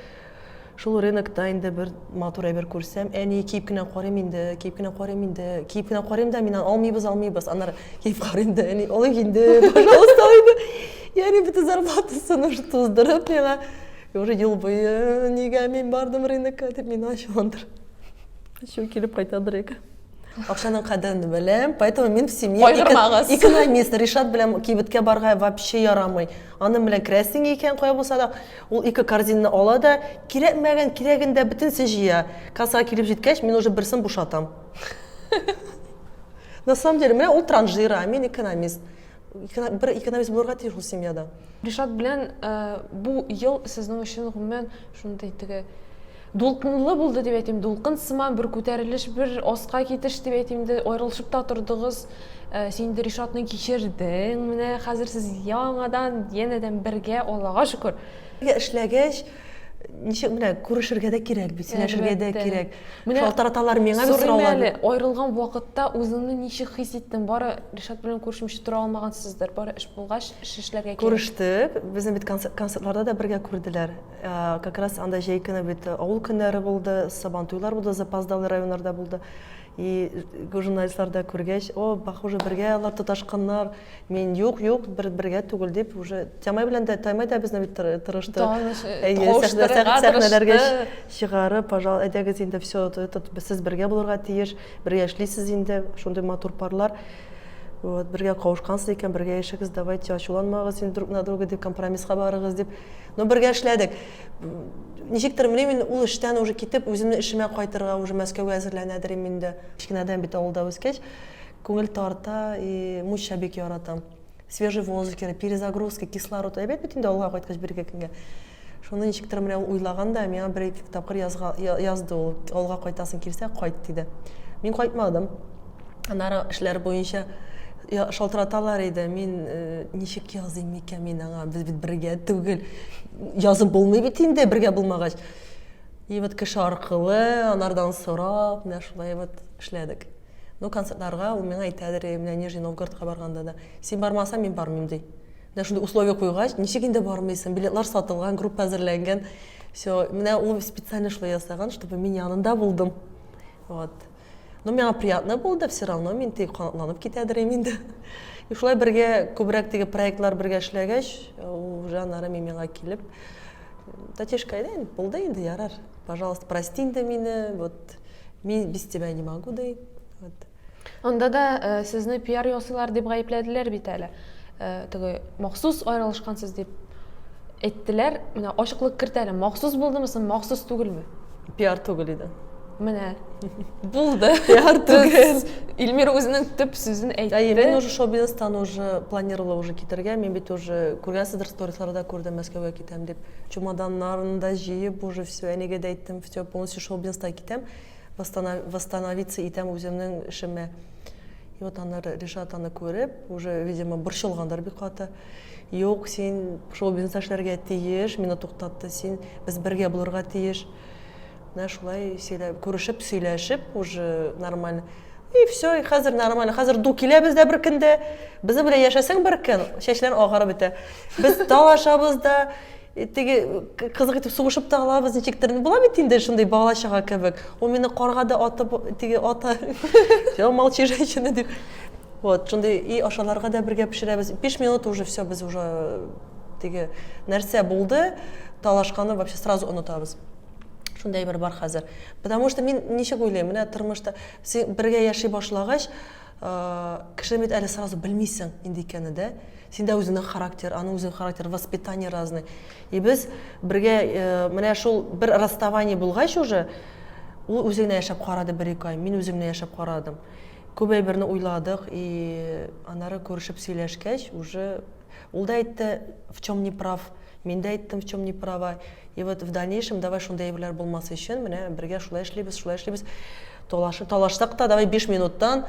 шул рынокта инде бер матур әйбер күрсәм, әни киеп кенә карыйм инде, киеп кенә карыйм инде, киеп кенә карыйм да мин алмыйбыз, алмыйбыз, аннары киеп карыйм да әни алыйк инде, пожалуйста, инде. Яни бөтен зарплатасын уже туздырып миңа, уже ел буе нигә мин бардым рынокка дип мин ачуландыр. Ачу килеп кайтадыр яки. Акчаның кадерен беләм, поэтому мин в семье экономист. Ришат белән кибеткә барга вообще ярамый. Аны белән крәсең икән, кая булса да, ул ике корзинны ала да, кирәкмәгән, кирәген дә бөтенесе җыя. Кассага килеп җиткәч, мин уже берсен бушатам. На самом деле, менә ул транжира, мин экономист. бер экономист булырга тиеш ул семьяда ришат белән э, бу ел сезнең өчен гомумән шундый теге дулкынлы булды дип әйтим дулкын сыман бер күтәрелеш бер аска китеш дип әйтим дә аерылышып та тордыгыз э, син инде ришатны кичердең менә хәзер сез яңадан янәдән бергә аллага шөкер эшләгәч ничек менә күрешергә дә кирәк бит сөйләшергә дә кирәк менә шалтыраталар миңа бит сораулар әле аерылган вакытта үзеңне ничек хис иттең бары ришат белән күрешмичә тора алмагансыздыр бары эш булгач эш эшләргә кирәк күрештек безне бит концертларда да бергә күрделәр как раз анда җәй көне бит авыл көннәре булды сабан туйлар булды запоздалый районнарда булды И журналистлар да күргәч, о, похоже, бергә алар тоташканнар. Мин юк, юк, бер бергә түгел дип уже Тямай белән дә Таймай да безне бит тырышты. Сәхнәләргә чыгарып, пожалуйста, әйдәгез инде все это сез бергә булырга тиеш, бергә эшлисез инде, шундый матур парлар. Вот, бергә кавышкансыз икән, бергә яшәгез, давайте ачуланмагыз инде друг на друга дип компромисска барыгыз дип. Ну, бергә эшләдек. Ничектер, белмим инде, ул эштән уже китеп, үземнең эшемә кайтырга, уже Мәскәүгә әзерләнәдер им инде. Кечкенәдән бит авылда үскәч, күңел тарта и муча бик яратам. Свежий воздух кирәк, перезагрузка, кислород. Әйбәт бит инде авылга кайткач бер-ике көнгә. Шуны ничектер менә ул уйлаган да, миңа бер-ике тапкыр язды ул. Авылга кайтасың килсә, кайт, диде. Мин кайтмадым. Аннары эшләр буенча шалтыраталар иде. Мин ничек языйм микән мин аңа? Без бит бергә түгел. Язып булмый бит инде бергә булмагач. И вот кеше аркылы, анардан сорап, менә шулай вот эшләдек. Ну, концертларга ул миңа әйтәдер, менә Нижний Новгородка барганда да, син бармасаң, мин бармыйм ди. Менә шундый условие куйгач, ничек инде бармыйсың? Билетлар сатылган, группа әзерләнгән. Все, менә ул специально шулай ясаган, чтобы мин янында булдым. Вот. Ну, миңа приятно булды, все равно мин теге канатланып китәдер инде. И шулай бергә күбрәк теге проектлар бергә эшләгәч, ул уже аннары мин миңа килеп, Татишка, әйдә инде, булды инде, ярар. Пожалуйста, прости инде мине, вот мин без тебя не могу, ди. Вот. Анда да э, сезне пиар ясыйлар дип гаепләделәр бит әле. Э, теге махсус аерылышкансыз дип әйттеләр. Менә ачыклык кертәле, махсус булдымы соң, махсус түгелме? Пиар түгел иде. Менә. Булды. Пиар түгел. Илмир үзенең төп сүзен әйтте. Әйе, мин уже шоу-бизнестан уже планировала уже китергә, мин бит уже күргәнсездер сторисларда күрдем, Мәскәүгә китәм дип. Чемоданнарын да җыеп уже все, әнигә дә әйттем, все, полностью шоу-бизнестан китәм, восстановиться итәм үземнең эшемә. И вот аннары Ришат аны күреп, уже, видимо, борчылгандыр бик каты. Юк, син шоу-бизнеста эшләргә тиеш, мине туктатты син, без бергә булырга тиеш. Менә шулай сөйләп, күрешеп, сөйләшеп, уже нормаль. И все, и хәзер нормаль. Хәзер ду киләбез дә бер көндә. Безнең белән яшәсәң бер көн, чәчләрең агарып бетә. Без талашабыз да, Э, теге э, кызык итеп сугышып та алабыз ничек тә була бит инде шундый бала чага кебек ул мине карга да атып теге ата молчи женщина дип вот шундый и ашаларга да бергә пешерәбез биш минут уже все без уже э, теге нәрсә булды талашканы вообще сразу онытабыз шундай әйбер бар хәзер потому что мин ничек уйлыйм менә тормышта син бергә яши башлагач Кешене бит әле сразу белмисең нинди икәнен, дә? Син дә үзеңнең характер, аның үзенең характер, воспитание разный. И без бергә менә шул бер расставание булгач уже, ул үзе генә яшәп карады бер-ике ай, мин үзем генә яшәп карадым. Күп әйберне уйладык, и аннары күрешеп сөйләшкәч, уже Ул да әйтте, в чем не прав, мин дә әйттем, в чем не права. И вот в дальнейшем давай шундый әйберләр булмасы өчен, менә бергә шулай эшлибез, шулай эшлибез. Талашып, талашсак та, давай 5 минуттан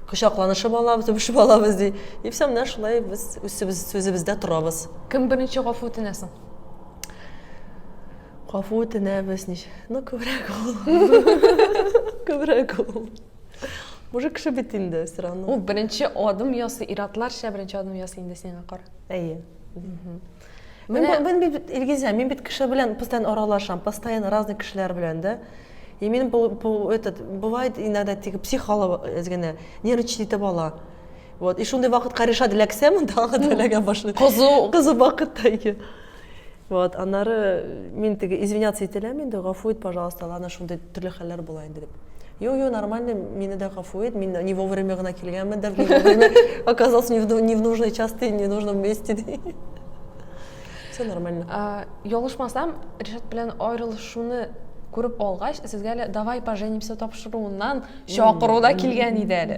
кочакланышып алабыз, үбешеп алабыз ди. И все, менә шулай без үсебез, сүзебездә торабыз. Кем беренче гафу үтенә соң? Гафу үтенәбез, ничек? Ну, күбрәк ул. Күбрәк ул. Уже кеше бит инде все равно. Ул беренче адым ясый, иратларча беренче адым ясый инде сиңа кара. Әйе. Мен мен бит Илгизә, мин бит кеше белән постоянно аралашам, постоянно разный кешеләр белән, да. И мин бу бу этот бывает иногда тик психолог эзгене нервничать итеп ала. Вот, и шундый вакытка решат эләксәм, тагы да эләгә башлый. Кызу, кызу вакытта ике. Вот, аннары мин теге извиняться ителәм инде, гафу ит, пожалуйста, ана шундый төрле хәлләр була инде дип. Йо, йо, нормально, мине дә гафу ит, мин не вовремя гына килгәнмендер, не вовремя оказался не в нужной части, не в нужном месте. Все нормально. А, Ялгышмасам, Ришат белән аерылышуны күреп алгач, сезгә әле давай поженимся тапшыруыннан чакыру да килгән иде әле.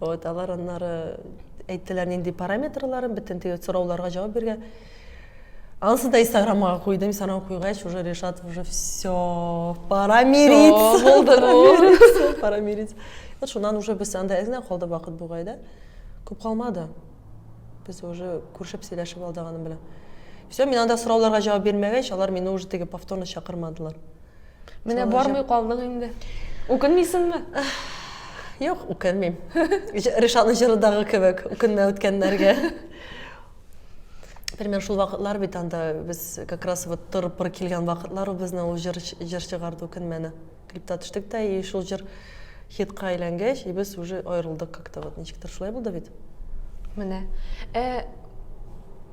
Вот, алар аннары әйттеләр нинди параметрларын, бөтен теге сорауларга җавап биргән. Анысы да инстаграмга куйдым, инстаграм куйгач, уже решат уже все, пора мириться. Булды бу. Пора мириться. Вот шуннан уже без анда әз генә калды вакыт бугай да. Күп калмады. Без уже күршеп сөйләшеп алдык аның белән. Все, мин анда сорауларга җавап бирмәгәч, алар мине уже теге повторно чакырмадылар. Менә Солы бармый җеп. калдың инде. Үкенмисеңме? Юк, үкенмим. Җ- Ришаны җырыдагы кебек, үкенмә үткәннәргә. Пример шул вакытлар бит анда без как раз вот тыр-пыр килгән вакытлар ул безнең ул җыр, җыр чыгарды үкенмәне. Клипта төштек тә и шул җыр хитка әйләнгәч, и без уже аерылдык как-то вот ничектер шулай булды бит. Менә. Ә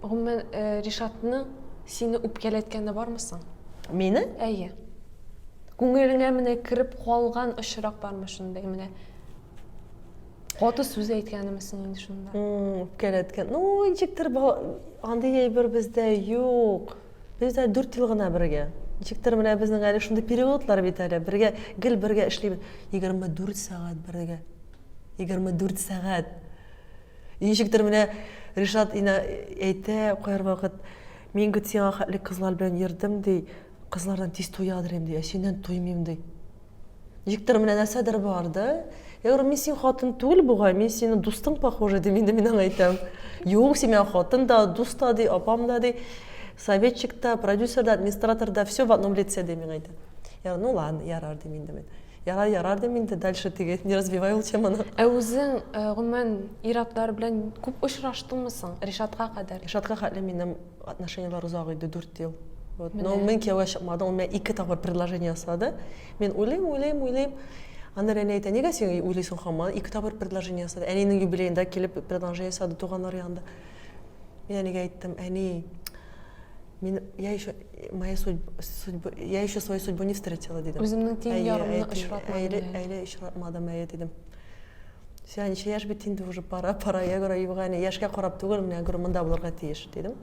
гомумән э, Ришатның Сине үпкәләткәне бармы соң? Мине? Әйе. Күңелеңә менә кереп калган очрак бармы шундый менә? Каты сүз әйткәнемесең инде шунда. Үпкәләткән. Ну, ничектер андый әйбер бездә юк. Без дә 4 ел гына бергә. Ничектер менә безнең әле шундый периодлар бит әле. Бергә, гел бергә эшлибез. 24 сәгать бергә. 24 сәгать. Ничектер менә Ришат инә әйтә кайр вакыт, мин гет сиңа хәтле кызлар белән йөрдем, ди, кызлардан тиз туядыр инде, ә синнән туймыйм, ди. Ничектер менә нәрсәдер бар, да? Я говорю, мин синең хатын түгел бугай, мин синең дустың похожий, дим инде мин аңа әйтәм. Юк, син миңа хатын да, дус та, ди, апам да, ди, советчик та, продюсер да, администратор да, всё в одном лице, дим миңа әйтә. Я говорю, ну ладно, ярар, дим инде мин. Ярар, ярар дим инде, дальше теге, не развивай ул теманы. Ә үзең, гомумән, ир-атлар белән күп очраштыңмы соң, Ришатка кадәр? Ришатка хәтле минем отношениеләр озак иде, дүрт ел. Вот. Но мин кияүгә чыкмадым, ул миңа ике тапкыр предложение ясады. Мин уйлыйм, уйлыйм, уйлыйм. Аннан әни әйтә, нигә син уйлыйсың хаман? Ике тапкыр предложение ясады. Әнинең юбилеенда килеп предложение ясады туганнар янында. Мин әнигә әйттем, әни, Мин я еще моя судьба, судьба я еще свою судьбу не встретила дидем. Үземнең тиң ярымны очратмадым. Әле очратмадым әле дидем. Сиңа ничә яшь бит инде уже пора, пора, я говорю, Евгения, яшькә карап түгел, менә говорю, монда булырга тиеш, дидем.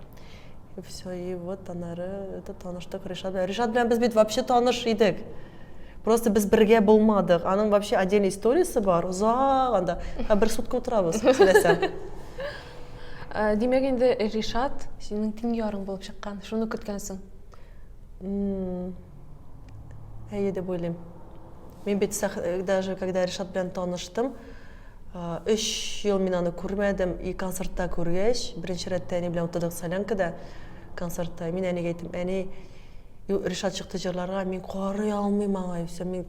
И все, и вот анары это таныштык Ришат белән. Ришат белән без бит вообще таныш идек. Просто без бергә булмадык. Аның вообще отдельный историясе бар, узак анда. Бер сутка утырабыз, сөйләсәм. Ә, димәк инде Ришат синең тиң ярың булып чыккан. Шуны көткәнсең. М-м. Әйе дип уйлыйм. Мин бит сәх- даже когда Ришат белән таныштым, а, өч ел мин аны күрмәдем. И концертта күргәч, беренче рәттә әни белән утырдык солянкада, концертта. Мин әнигә әйттем, әни, ю, Ришат чыкты җырларга, мин карый алмыйм аңа, юкса мин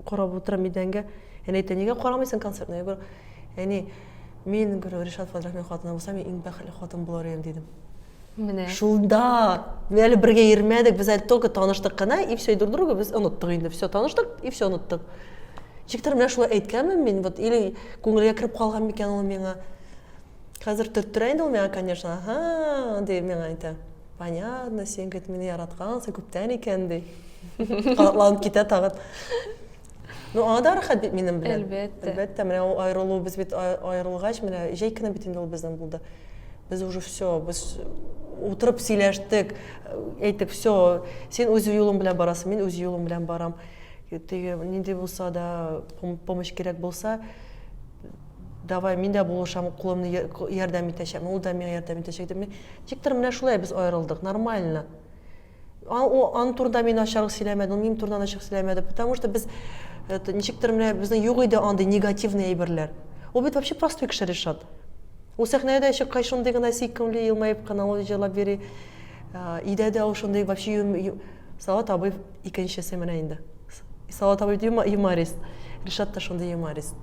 карап утырам идәнгә. Әни әйтә, нигә карамыйсың концертны? Я говорю, әни, Мин гөрү Ришат Фадрахмин хатыны булсам, мин иң бәхетле хатын булар идем дидем. Менә. Шунда без әле бергә йөрмәдек, без әле только таныштык кына, и все, и друг друга без оныттык инде. Все, таныштык, и все оныттык. Ничектер менә шулай әйткәнмен мин, вот или күңелгә кереп калган микән ул миңа. Хәзер төрттерә инде ул миңа, конечно. Ага, ди миңа әйтә. Понятно, син гет мине яраткансың күптән икән ди. Катланып китә тагын. Ну, аңа да рәхәт бит минем белән. Әлбәттә. Әлбәттә, менә ул аерылу, без бит аерылгач, менә җәй көне бит инде ул безнең булды. Без уже все, без утырып сөйләштек, әйтеп, все, син үз юлың белән барасың, мин үз юлым белән барам. Теге нинди булса да помощь кирәк булса, давай мин дә булышам, кулымны ярдәм итәчәкмен, ул да миңа ярдәм итәчәк дип. Тиктер менә шулай без аерылдык, нормально. Аның турында мин ачыграк сөйләмәдем, минем турында ачык сөйләмәде, потому что без э, ничектер менә безнең юк иде андый негативный әйберләр. Ул бит вообще простой кеше Ришат. Ул сәхнәгә дә чыккач шундый гына сөйкемле елмаеп кына ул җырлап йөри. Э, өйдә дә ул шундый вообще Салават абый икенчесе менә инде. Салават абый юморист. Ришат та шундый юморист.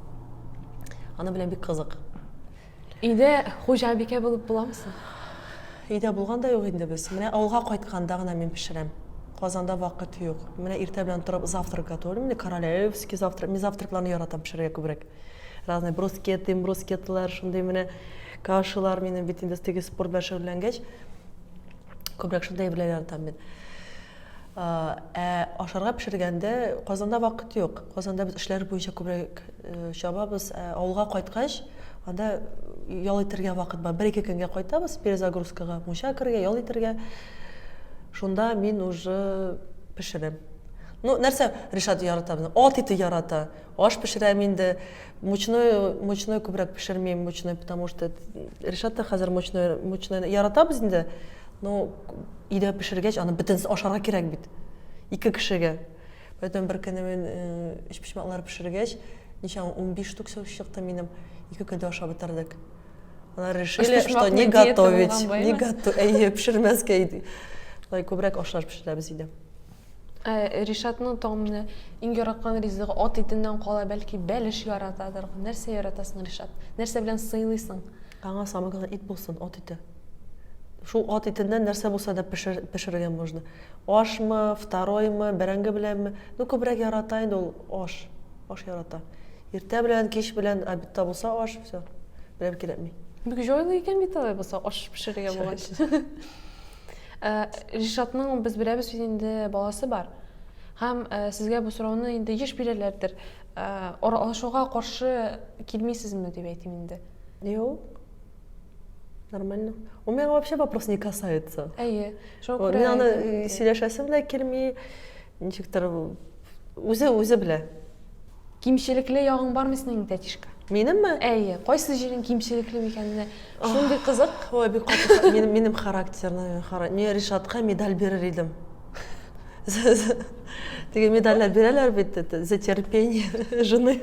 Аны белән бик кызык. Өйдә хуҗабикә булып буламы соң? Өйдә булган да юк инде без. Менә авылга кайтканда гына мин пешерәм. Казанда вакыт юк. Менә иртә белән торып завтрак готовлю. Менә королевский завтрак. Мин завтракларны яратам пешерергә күбрәк. Разные брускеты, имбрускетлар, шундый менә кашалар минем бит инде теге спорт белән шөгыльләнгәч, күбрәк шундый әйберләр яратам мин. Ә ашарга пешергәндә Казанда вакыт юк. Казанда без эшләр буенча күбрәк чабабыз. Ә авылга кайткач, анда ял итәргә вакыт бар. Бер-ике көнгә кайтабыз перезагрузкага, мунча керергә, ял итәргә. Шунда мин уже пешерәм. Ну, нәрсә Ришат ярата безнең? Ат ите ярата. Аш пешерәм инде. Мучной, мучной күбрәк пешермим, мучной, потому что Ришат та хәзер мучной, мучной яратабыз инде, но өйдә пешергәч, аны бөтенесе ашарга кирәк бит. Ике кешегә. Поэтому бер көнне мин э, өчпочмаклар пешергәч, ничә 15 штук сөт чыкты минем. Ике көндә ашап бетердек. Алар решили, что не готовить, не готовить, пешермәскә иде. Лай күбрәк ашлар пешерәбез иде. Ә Ришатның тагын менә иң яраткан ризыгы ат итеннән кала, бәлки, бәлеш яратадыр. Нәрсә яратасың, Ришат? Нәрсә белән сыйлыйсың? Аңа самое главное ит булсын, ат ите. Шул ат итеннән нәрсә булса да пешерергә можно. Ашмы, второймы, бәрәңге беләнме. Ну, күбрәк ярата инде ул аш. Аш ярата. Иртә белән, кич белән, обедта булса аш, всё. Берәм кирәкми. Бик җайлы икән бит алай булса, аш пешерергә булгач. Ә, Ришатның без беләбез бит инде баласы бар. Һәм ә, сезгә бу сорауны инде еш бирәләрдер. Ә, аралашуга каршы килмисезме дип әйтим инде. Юк. Нормально. У меня вообще вопрос не касается. Әйе. Шуңа күрә Мин аны э, сөйләшәсем дә килми. Ничектер үзе үзе белә. Кимчелекле ягың бармы синең, тәтишка? Минемме? Әйе, кайсы җирең кимчелекле микәнне, шундый кызык. Ой, бик каты, минем, минем характерны, мин Ришатка медаль бирер идем. Теге медальләр бирәләр бит, за терпение жены.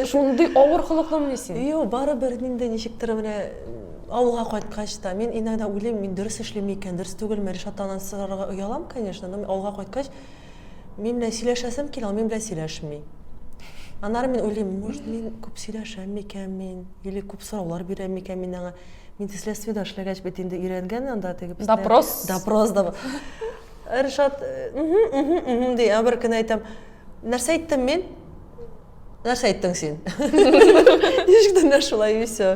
Шундый авыр холыклымыни син? Юк, барыбер инде ничектер менә авылга кайткач та мин иногда уйлыйм, мин дөрес эшлим микән, дөрес түгелме, Ришаттан сорарга оялам, конечно, но авылга кайткач, Мин белән сөйләшәсем килә, ул мин белән сөйләшми. Аннары мин уйлыйм, может, мин күп сөйләшәм микән мин, или күп сораулар бирәм микән мин аңа. Мин следствие да эшләгәч бит инде өйрәнгән анда теге бездә. Допрос. Допрос да. Ришат, ди, ә бер көн әйтәм, нәрсә әйттем мин? Нәрсә әйттең син? Ничек тә нәрсә шулай и все.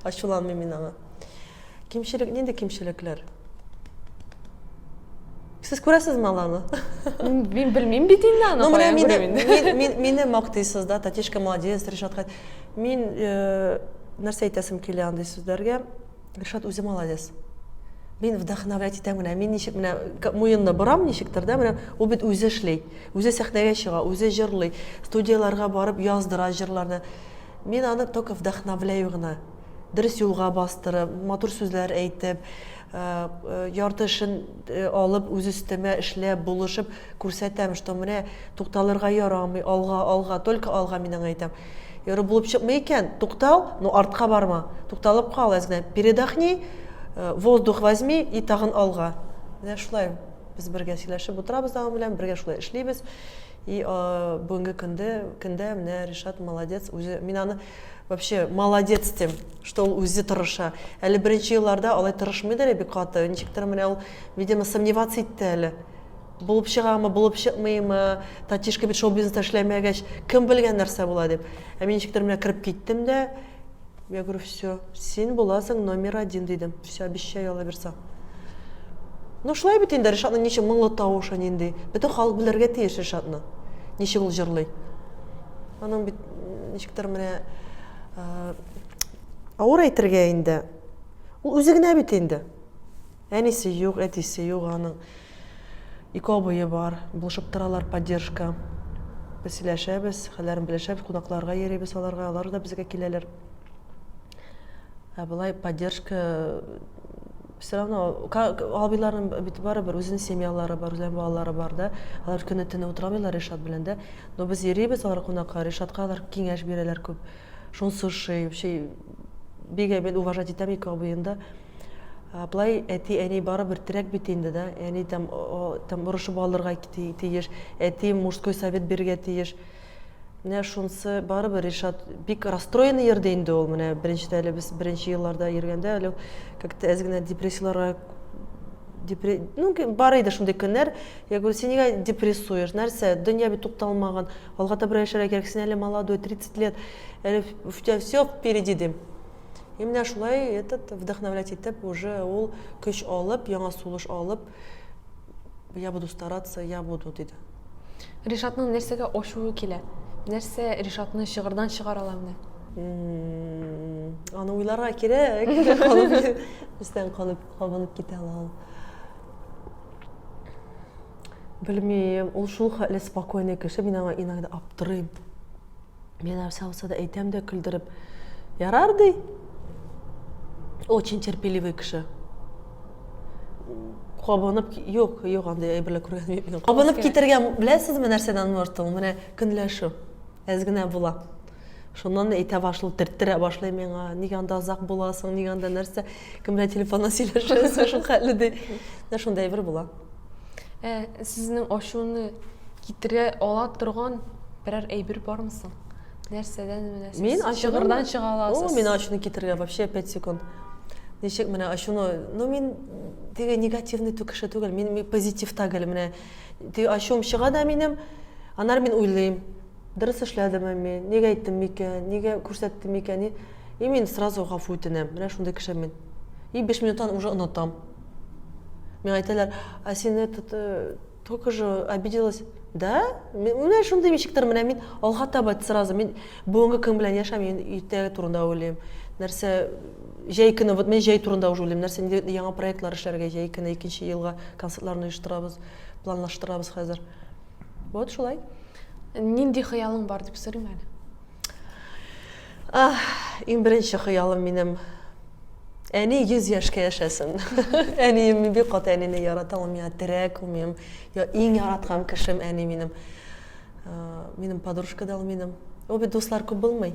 Ачуланмыйм мин аңа. Кимчелек нинди кимчелекләр? Сез күрәсезме аларны? Мин белмим бит инде аны. Ну, менә мине, мин, мине мактыйсыз да, Татишка молодец, Ришатка. Мин э, нәрсә әйтәсем килә андый сүзләргә? Ришат үзе молодец. Мин вдохновлять итәм генә. Мин ничек менә муенны борам ничектер да, менә ул бит үзе эшли. Үзе сәхнәгә чыга, үзе җырлый, студияләргә барып яздыра җырларны. Мин аны только вдохновляю гына. дөрес юлга бастырып, матур сүзләр әйтеп, ярты эшен алып, үз өстемә эшләп, булышып күрсәтәм, что менә тукталырга ярамый, алга, алга, только алга, мин аңа әйтәм. Ярый, булып чыкмый икән, туктал, но артка барма, тукталып кал, әз генә передохни, воздух возьми и тагын алга. Менә шулай без бергә сөйләшеп утырабыз аның белән, бергә шулай эшлибез. И бүгенге көндә, көндә менә Ришат молодец, үзе мин аны Вообще молодец дим, что ул үзе тырыша. Әле беренче елларда алай тырышмыйды әле бик каты. Ничектер менә ул, видимо, сомневаться итте әле. Булып чыгамы, булып чыкмыймы, татишка бит шоу-бизнеста эшләмәгәч, кем белгән нәрсә була дип. Ә мин ничектер менә кереп киттем дә, я говорю, все, син буласың номер один дидем. Все, обещаю, алла бирса. Ну, шулай бит инде Ришатның ничек моңлы тавышы нинди. Бөтен халык белергә тиеш Ришатны. Ничек ул җырлый. Аның бит ничектер менә авыр әйтергә инде ул үзе генә бит инде әнисе юк әтисе юк аның ике абые бар булышып торалар поддержка без сөйләшәбез хәлләрен белешәбез кунакларга йөрибез аларга алар да безгә киләләр ә болай поддержка все равно абыйларның бит барыбер үзенең семьялары бар үзләренең балалары бар да алар көне төне утыра алмыйлар ришат белән дә но без йөрибез алар кунакка ришатка алар киңәш бирәләр күп шунысы ошый вообще бик әйбәт уважать итәм ике абыен да былай әти әни барыбер терәк бит инде да әни там там орышып алырга тиеш әти мужской совет бирергә тиеш Менә шунысы барыбер, Ришат, бик расстроенный йөрде инде ул. Менә беренчедә әле без беренче елларда йөргәндә әле как-то әз генә депрессияларга депре... ну, бар иде шундый көннәр. Я говорю, син нигә депрессуешь? Нәрсә? Дөнья бит тукталмаган. Алга таба яшәргә кирәк. Син әле молодой, 30 лет. Әле у тебя все впереди дим. И менә шулай этот вдохновлять итеп уже ул көч алып, яңа сулыш алып, я буду стараться, я буду диде. Ришатның нәрсәгә ачуы килә? Нәрсә Ришатны чыгырдан чыгара ала менә? Аны уйларга кирәк. Өстән калып кабынып китә ала ул. Белмим, ул шул хәтле спокойный кеше, мин аңа иногда аптырыйм. Мин нәрсә булса да әйтәм дә көлдереп. Ярар ди. Очень терпеливый кеше. Кабынып, юк, юк, андый әйберләр күргән юк. Кабынып китергә беләсезме нәрсәдән мортыл? Менә көнләшү. Әз генә була. Шуннан әйтә башлый, төрттерә башлый миңа. Нигә анда озак буласың, нигә анда нәрсә? кем белән телефоннан сөйләшәсең шул хәтле ди менә шундай бер була ә сезнең ачуны китерә ала торган берәр әйбер бармы соң нәрсәдән менә мин ачыгырдан чыга аласыз мин ачуны китерергә вообще пять секунд ничек менә ачуны ну мин теге негативный кеше түгел мин позитив түгел менә теге ачуым чыга да минем анар мин уйлыйм дөрес эшләдемме мин нигә әйттем микән нигә күрсәттем микән И мин сразу гафу үтенәм, менә шундый кеше мин. И биш минуттан уже онытам. Миңа әйтәләр, а син этот, э, только же обиделась. Да? Менә шундый ничектер, менә мин алга таба сразу, мин бүгенге көн белән яшәм, мин иртәгә турында уйлыйм. Нәрсә, җәй көне, вот мен җәй турында уже уйлыйм, нәрсә инде яңа проектлар эшләргә, җәй көне икенче елга концертларны оештырабыз, планлаштырабыз хәзер. Вот шулай. Нинди хыялың бар дип сорыйм әле? Ах, иң беренче хыялым минем. Әни 100 яшькә яшәсен. Әнием мин бик каты әнине яратам, миңа терәк, ул минем я иң яраткан кешем әни минем. Минем подружка да ул минем. Ул бит дуслар күп булмый.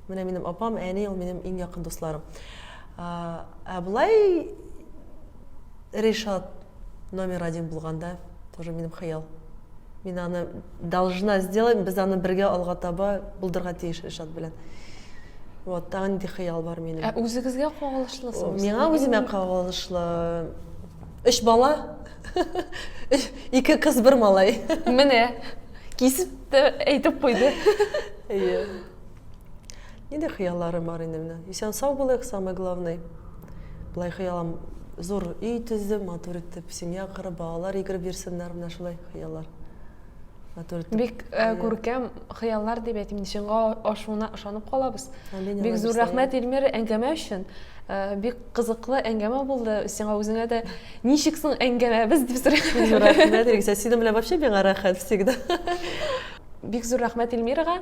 Менә минем апам, әни ул минем иң якын дусларым. Ә, ә Ришат номер один булганда тоже минем хыял. Мин аны должна сделать, без аны бергә алга таба булдырга тиеш Ришат белән. Вот, тагы нинди хыял бар минем. Ә үзегезгә кагылышлы соң? Миңа үземә кагылышлы. Өч бала, ике кыз, бер малай. Менә, кисеп тә әйтеп куйды. Әйе. Нинди хыялларым бар инде менә. Исән сау булыйк, самый главный. Былай хыялым зур өй төздем, матур итеп семья корып, балалар йөгереп йөрсеннәр, менә шулай хыяллар. Матур итеп. Бик э, күркәм хыяллар дип әйтим, чынга ашуына ышанып калабыз. Амин, Бик зур рәхмәт Эльмир әңгәмә өчен. Э, бик кызыклы әңгәмә булды. Сиңа үзеңә дә ничек соң әңгәмәбез дип сорыйм. Рәхмәт, Ригсә, синең белән вообще миңа рәхәт всегда. Бик зур рәхмәт Эльмирага.